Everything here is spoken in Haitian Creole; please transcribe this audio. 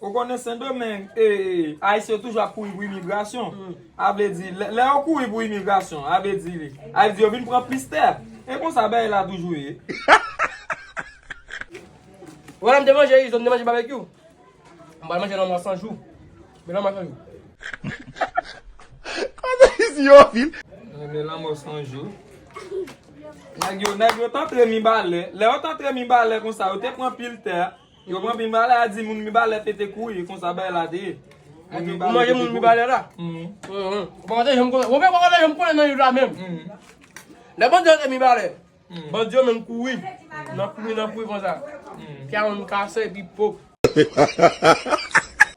Ou konnen sendomeng ayisyen yo toujou ap kouri pou imigrasyon a vle di lè yo kouri pou imigrasyon a vle di a vle di yo vin pran plis tè e konsa bagay la toujou ye. Wè lèm te manje izo m te manje babekyou m pral manje lanmò san jou men lanmò san jou. Koze izi yo anpil. Men lanmò san jou. Nèg yo nèg yo t antre mibalè lè yo t antre mibalè konsa yo te pran pil tè. Yo pran mibalè a di moun mibalè pete kou e konsa bay la te ye. Moun mibalè. Ou manje moun mibalè la? Mwen. Mwen. Mwen te jom konnen. Mwen pe konnen jom konnen nan liv la menm. Mwen. Lè bandi yo te mibalè. Mwen. Bandi yo menm kouri. Mwen. Nan kouri nan kouri konsa. Mwen. Pya moun kase epi pop.